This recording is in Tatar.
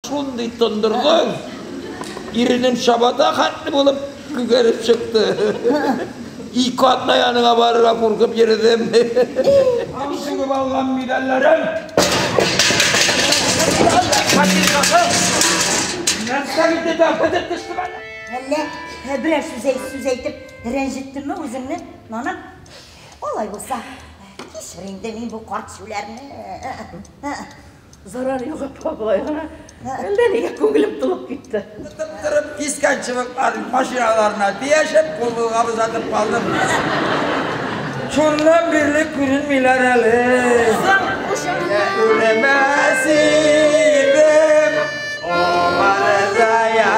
Шундый тондырды, иренем чабата хәтле булып күгәреп чыкты. Ике атна яныңа барырга куркып йөрдем. Аңсыгып алган медальләрем. Нәрсә инде дә бетеп төштем әле. Әллә ә, берәр сүз әйт, сүз әйтеп рәнҗеттемме үзеңне? Нана, алай булса, кичер инде мин бу карт сүләрне. Зарар юк, апа, болай гына. Әллә нигә күңелем тулып китте. Тып торып кискән чыбык машиналарына тиешеп, кулга озатып калдым. Шуннан бирле күренмиләр әле. Үлемәс идем, омар зая.